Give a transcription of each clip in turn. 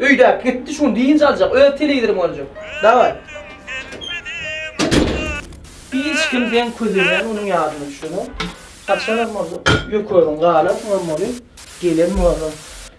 Öýdäp gitdi şugun dynç aljak öz telewizoryn görjek daway. Hiç kim deň közeýän onuň ýadyna düşenok. Haçanam bolsa ýökeriň galar soňam ony gelen bolar.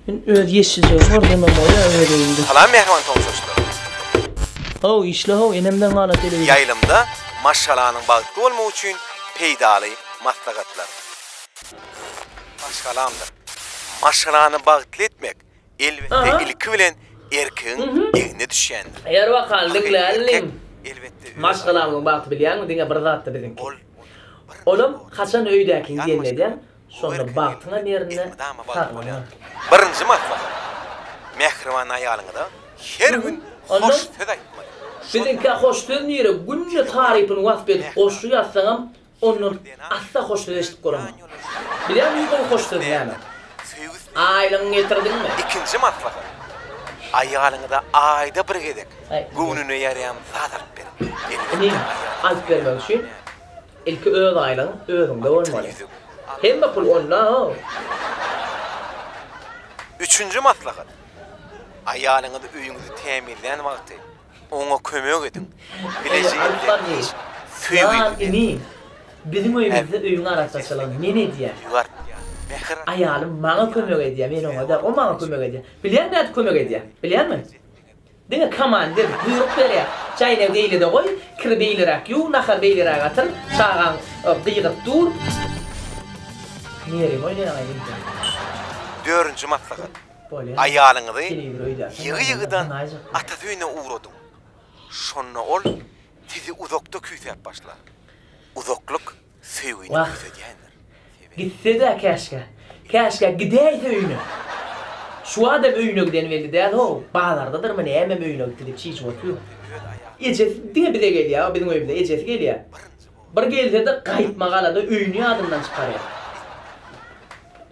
Men öz ýeşiljegim bar demem bolýa öz öýümde. Salam mähriban tomaşaçylarymyz. How işle how enemden gala telewizor. Ýaýlymda maşgalanyň bagtly bolmagy üçin peýdaly maslahatlar. Maşgalamdyr. Maşgalany bagtly etmek Elbetde ilki bilen erkegiň egne düşýändir. Ýör bakaln diňläliň inim. Maşgalamyzyň bagty bilýäňmi diňe bir zatda biziňki. Onam haçan öýdäkiň gelin edýäň şonda bagtyňam ýerinde saglygyň hem. Birinji maslahat. Mähriban aýalyňyza her gün hoş söz aýtmaly. Biziňkä hoş söz nirä günde tarypyny wasp edip goşgy ýazsaňam Ondan asla hoş söz eşidip göremok. Bilýärmiň ol hoş söz näme? Aýlygyňy getirdiňmi? Ikinji maslahat. Aýalyňyza aýda bir gezek göwnüne ýaraýan zat alyp beriň. Inim, alyp bermek üçin ilki öz aýlygyň özüňde bolmaly. Hemme pul onda-ow. Üçünji maslahat. Aýalyňyz öýüňizi tämizlän wagty Oňa kömek ediň. Bileje indi hiç söýgini berme. Biziň öýümizde öýüň arassaçylygyny men edýän. Aýalym maňa kömek edýär, men oňa däl. O maňa kömek edýär. Bilýäň nädip kömek edýär? Bilýäňmi? Diňe komandir, buýruk berýär. Çäýnegi beýlede goý, kiri beýleräk ýuw, nahary beýleräk atyl, çagaň gygyryp dur. Nerwiňi oýnaýaňaý, Ýeňse. Dördünji maslahat. Aýalyňyzy ýygy-ýygydan atasy öýüne ugradyň. Şonda ol sizi uzakda küýsäp başlar. Uzaklyk söýgini küýsedýändir. Gitse-dä käşgä. Käşgä gidäýse öýüne. Şu wagtam öýüne giden belli däl-how. Bazardadyrmy nämem öýüne gitdi diýip çişip oturyň. Ejesi diňe bize gelýär-ow, biziň öýümize ejesi gelýär. Bir gelse-de gaýtmagalada öýüni ýadyndan çykarýar.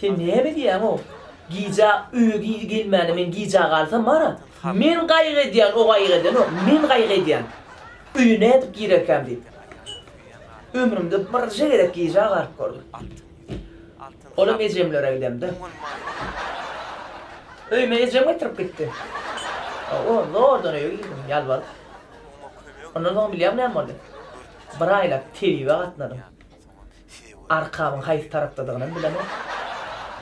Sen näme diýýäň-ow? Gijä öýe giz gelmäne men gijä galsam bar-a. Men gaýgy edýän, o gaýgy edenok. Men gaýgy edýän. Öýe nädip girerkäm diýip. Ömrümde birje gezek gijä galyp gördüm. Olam ejemlere gidemde. Öýüme ejem getirip gitdi. Hawa, zordan öýe girdim, ýalbaryp. Ondan soň bilýäňmi näme boldy? Bir aýlap tebibe gatnadym. Arkabyň haýsy tarapdadygynam bilemok.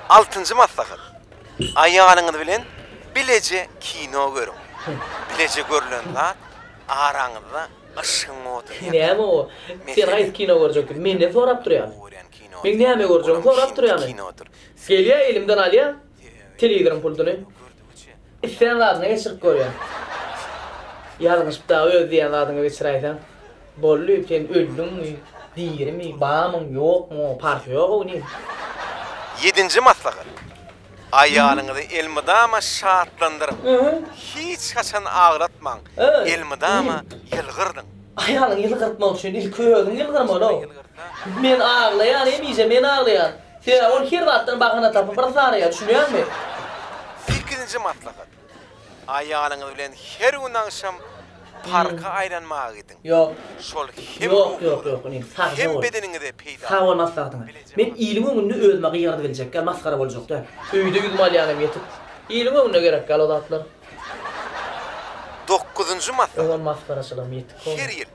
Altynjy maslahat. Aýalyňyz bilen bileje kino görüň. Bileje görlen zat araňyzda yşgyň oduny ýakyp. Näme o? Sen haýsy kino görjekdigiňi menden sorap durýaň. Men näme görjegimi sorap durýaňy? Gelýär elimden alýar. Telewizoryň pultyny islän zadyňa geçirip görýän. Ýalňyşyp dagy öz diýen zadyňa geçiräýseň, boldy, sen öldüňmi, dirimi, barmyň, ýokmuň, oňa parhy ýok oglyň. Ýedinji maslahat. Aýalyňyzy elmydama şatlandyryň. Hiç haçan aglatmaň, elmydama ýylgyrdyň. Aýalyňy ýylgyrtmak üçin ilki özüň ýylgyrmaly-ow. Men aglaýan, hemişe men aglaýan. Sebäbi ol her zatdan bahana tapyp yrs araýar, düşünýäňmi? Sekizinji maslahat. Aýalyňyz bilen her gün agşam parka aýlanmaga gidiň. Şol hem ruhuňyza, hem bedeniňize peýdaly. Sag bol maslahatyňa. Men iliň öňünde özüme gygyrydy biljek däl, masgara boljak däl. Öýde ýüzümi alýanym ýetik. Iliň öňünde gerek däl o zatlar. Dokuzynjy masal, Her ýyl,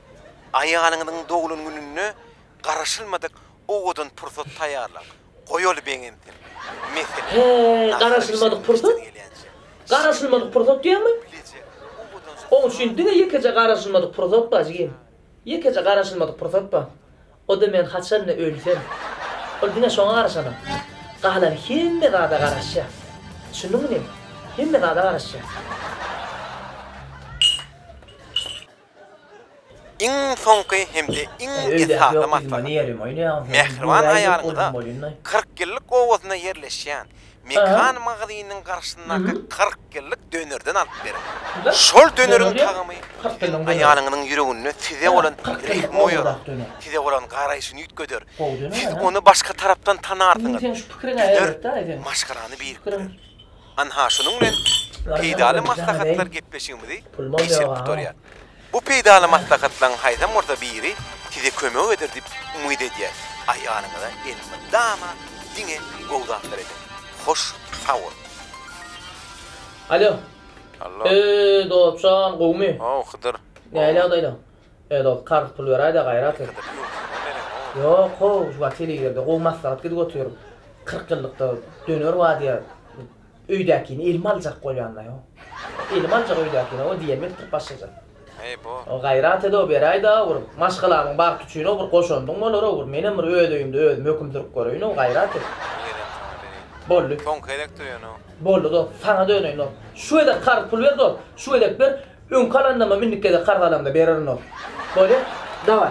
aýalyňyzyň doglan gününe garaşylmadyk owadan pursat taýýarlaň. Goýaly begensin. Meselem, nahar bişirip işden gelýänçä, şirin ýaly, bilejek, owadan süt-sumagy. Ýekeje garaşylmadyk pursat bar. O-da men haçan-da ölsem, ol diňe şoňa garaşanok. Galan hemme zada garaşýar. Düşündiňmi? Hemme zada garaşýar. Iň soňky hem-de iň esasy maslahat. Mähriban aýalyňyza kyrk ýyllyk obasynda ýerleşýän Mekan magazynynyň garşysyndaky kyrk ýyllyk dönerden alyp beriň. Şol döneriň tagamy siziň aýalyňyzyň ýüreginde size bolan rehimi oýarar, size bolan garaýşyny üýtgeder, siz ony başga tarapdan tanarsyňyz. Döner maşgalany birikdirer. Anha şunuň bilen peýdaly maslahatlar gepleşigimizi geçirip gutarýar. Bu peýdaly maslahatlaryň haýsam bolsa biri size kömek eder diýip umyt edýäs. Aýalyňyza elmydama diňe gowy zatlar ediň. Hoş sag boluň. Alo. Allo. Eee dostjan gowmy. How Hydyr. Näle ýagdaýlaň. Eee dost karz pul beräýdä gaýrat et. Hydyr ýok sen gowy neneň how. Ýok how şu wagt telewizorda gowy maslahat gidip otyr. Kyrk ýyllykda döner bar diýýär. Öýdäkini elim aljak bolýan-da ýo. Elim aljak öýdäkini o diýen bilen turup başlajak. Heý bo. O gaýrat ede-ow beräýde-ow bir maşgalamyň bagty üçin-ow bir goşandyň bolar-ow bir menem bir öz öýümde özüm höküm sürüp göreýin-ow gaýrat et. Ýerem saňa bereýin. Boldy. Soňky gezek döýen-ow. Boldy dost. Saňa döneýin dost. Şu gezek karz pul ber dost. Şu gezek ber. Öňki alandamam indiki gezek karz alamda bererin dost. Bolýa. Daway.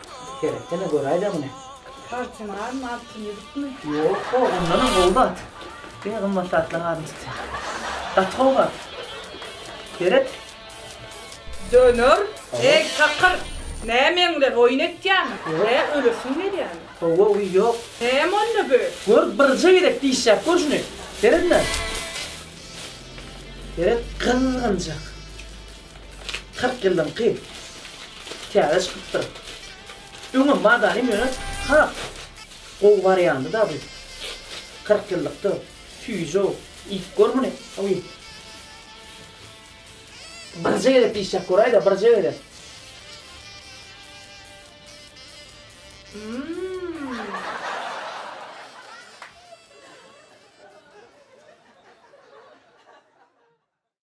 Seretdene göräýdä muny. Tarçynarmy, altyn ýüzükmi? Ýok-o, ondanam gowy zat. Diňe gymmat zatlar hazyna çykýa. Gaty gowy zat. Seret. Döner, eý, takyr! Näme meňzeş oýun etýäňmi? Hä, ölesiň gelýämi? Hawa, uý, ýok. Näme onda bu? Gör, birje gezek dişläp gör şuny. Seretme. Seret, gyzgynjak. Kyrk ýyllyňky täze çykypdyr. Öňem bar zanym ýöne has gowy barýandy da bu. Kyrk ýyllykda süýji-ow, iýip gör muny. Oý. Birje gezek işläp göräýdä, birje gezek.